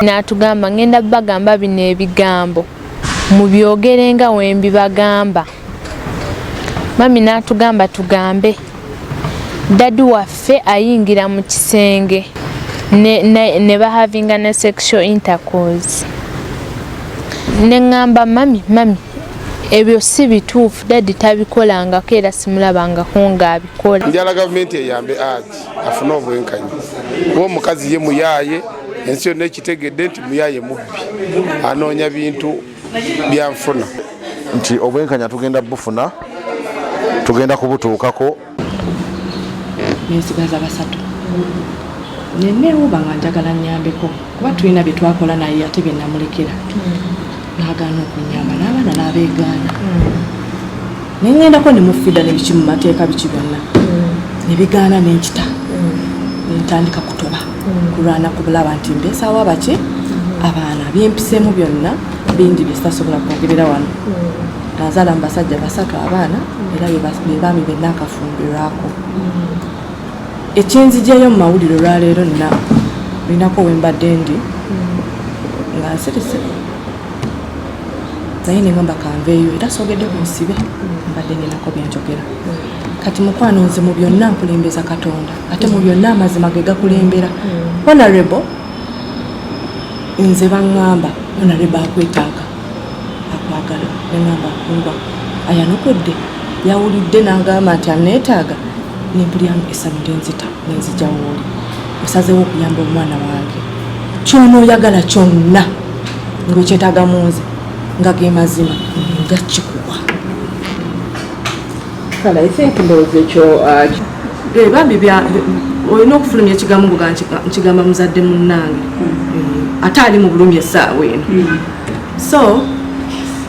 n'atugamba ngenda bagamba bino ebigambo mubyogere nga wembibagamba mami n'atugamba tugambe dadi waffe ayingira mu kisenge ne, ne, ne bahavinga ne sexual intercourse ne ŋŋamba mami mami ebyo si bituufu dadi tabikolangako era simulabangako ng'abikola njala gavumenti eyambe agi afune obwenkanyi kuba omukazi ye muyaaye ensi yonna ekitegedde nti muyaaye mubbi anoonya bintu byanfuna nti obwenkanya tugenda bufuna tugenda kubutuukako nensigaza basatu neneewuba nga njagala nyambeko kuba tulina bye twakola naye ate bye namulekera nagaana okunyamba n'abaana n'abeegaana naye ngendako ne mufida ne biki mu mateeka biki byonna ne bigaana ne nkita ne ntandika kutoba kulwana kubulaba nti mbeesaawo abaki abaana byempisemu byonna bingi bye sitasobola kwogerera wano Nazaala mu basajja basatu abaana era be baami be naakafumbirwako. Ekyenzigyeyo mu mawulire olwaleero nina olinako we mbadde ndi nga nsirise naye ne ngamba kanveeyo era soogedde ku nsibe mbadde ninako byenjogera kati mukwano nze mu byonna nkulembeza katonda ate mu byonna amazima ge gakulembera mm. honorable nze baŋŋamba honorable akwetaaga akwagala nengamba kumba ayanukudde yawulidde nangamba nti aneetaaga nempulyamu essanyu lyenzita nenzija wooli osazeewo okuyamba omwana wange kyonooyagala kyonna ngaekyetaaga mu nze nga ge mazima nga kikuwa kale i think ndowooza ekyo uh, eh, bambi olina okufulumya ekigambo ngoga nkigamba muzadde munnange eh, ate ali mu bulumi essaawa eno hmm. so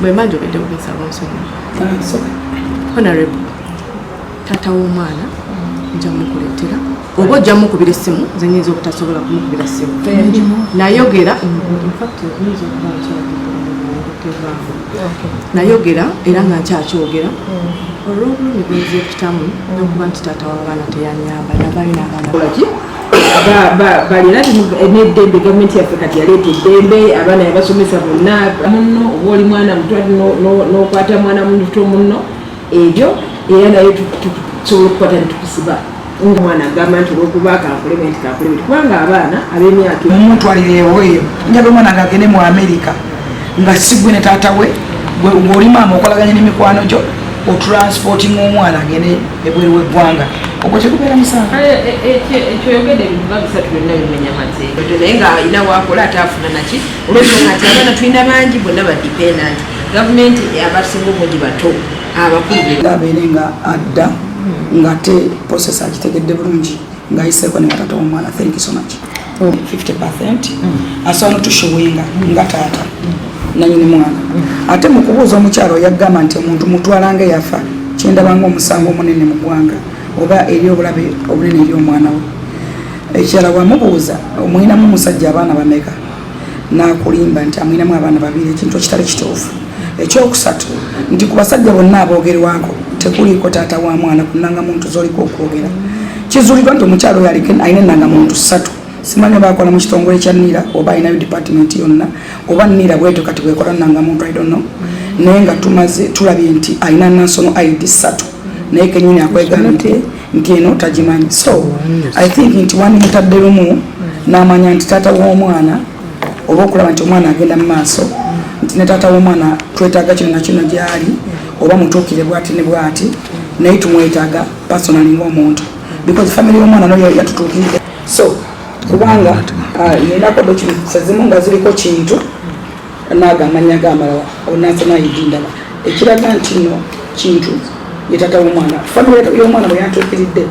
bwemba njogedde kugesaaba nsonga ah, honorable taata w'omwana nja mukuleetera oba ojja mukubira essimu nze nyinza obutasobola kumukubira ssimu nayogera nayogera era nga nkyakyogera mm. olwobulumi bwenza ekitamu mm. nokuba nti taata wabaana teyanyamba nabalina abaana balina neddembe gavumenti yaffe kati yaleeta eddembe abaana yabasomesa bonna munno oba oli mwana mutwa nokwata mwana muto munno ebyo era naye tusobola okukwata netukusiba nga omwana agamba nti olwokuba kankulebe nti kankulebe nti kubanga abaana ab'emyaka mumutwalirewo eyo njaga omwana nga agende mu amerika nga sigwe ne taata we gweoli maama okolaganye n'emikwano gyo otransporting omwana agende ebweru w'eggwanga ogwo tekubeera musango eh, eh, eh, ekyoyogedde ebintu nga bisatu byonna bimenya mateeka naye nga alina wakola ate afuna naki olwensonga nti abaana tulina bangi bonna badipendant gavumenti abasinga obungi bato abakulu abeere nga adda ngate process agitegedde bulungi ngayiseeko ne batata womwana thank you so much 50 percent mm. asobola notushuwinga nga taata nanyini mwana ate mu kubuuza omukyalo yagamba nti omuntu mutwalanga yafa kyendabanga omusango omunene mu ggwanga oba eri obulabe obunene eri omwana we ekirala wamubuuza omwinamu omusajja abaana bameka n'akulimba nti amwinamu abaana babiri ekintu ekitali kituufu ekyokusatu nti ku basajja bonna aboogerwako tekuliiko taata wa mwana ku nnangamuntu z'oliko okwogera kizuuliddwa nti omukyalo oyo alina ennangamuntu ssatu simanyi oba akola mu kitongole kya nira oba alinayo department yonna oba nira bwetyo kati bwekola nnangamuntu i don't know naye nga tumaze tulabye nti alina national id ssatu naye kenyini akwegaa nti eno tagimanyi so i think nti wandimutadde lumu namanya nti taata w'omwana oba okulaba nti omwana agenda mu maaso nti ne taata w'omwana twetaaga kino nakino gyali oba mutuukire bwati ne bwati naye tumwetaaga personali ng'omuntu because famiry y'omwana no yatutuukiride so kubanga yenako ah, documentsizimu nga ziriko kintu naago amanya ge amalala onansa nayidi ndaba ekiraga nti no kintu ye tata w'omwana famire y'omwana bwe yantuukiridde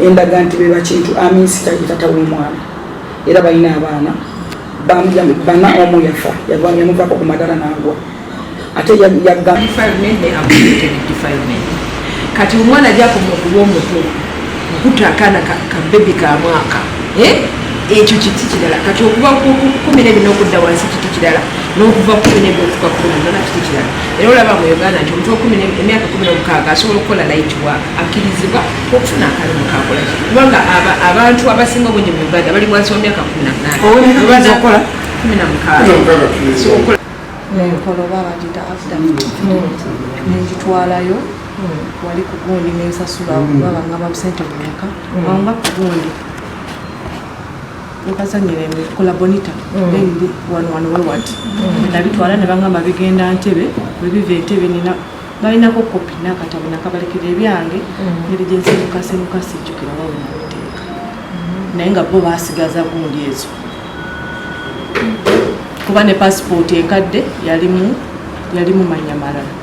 endaga nti beba kintu aminsita ye tata w'omwana era balina abaana bana omu yafa yamuvako ku madala naagwa ate yagga kati omwana gyakomaokuba omutuufu okuta akaana ka bebi ka mwaka eh? ekyo kiti kirala kati okuva kumi nebina okudda wansi kiti kirala nokuva kumi nebyo okuka kumi nona kiti kirala era olaba mu uganda nti omuntu wakumi emyaka kumi nomukaaga asobola okukola light work akkirizibwa okufuna akalimu kakola kubanga abantu abasinga obungi mu uganda bali wansi wa myaka kumi namunanaokola kumi namukaaga wali ku gundi nensasula babanga mm. babusente bumeka mm. wanga ku gundi nkazanyira kola bonita mm. then wano wano wewati nabitwala ne bangamba bigenda ntebe webiva entebe nina balinako kopi nakatabo nakabalekera ebyange ngeri gyensimukasimuka sijjukira wawe nabiteeka naye nga bo basigaza gundi ezo kuba ne pasipooti enkadde yalimu yalimu manya malala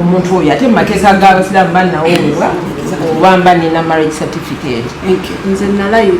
omuntu oyo ate mumakeza gabasiramu banawebwa oba mba nina marriage certificate nze nalayira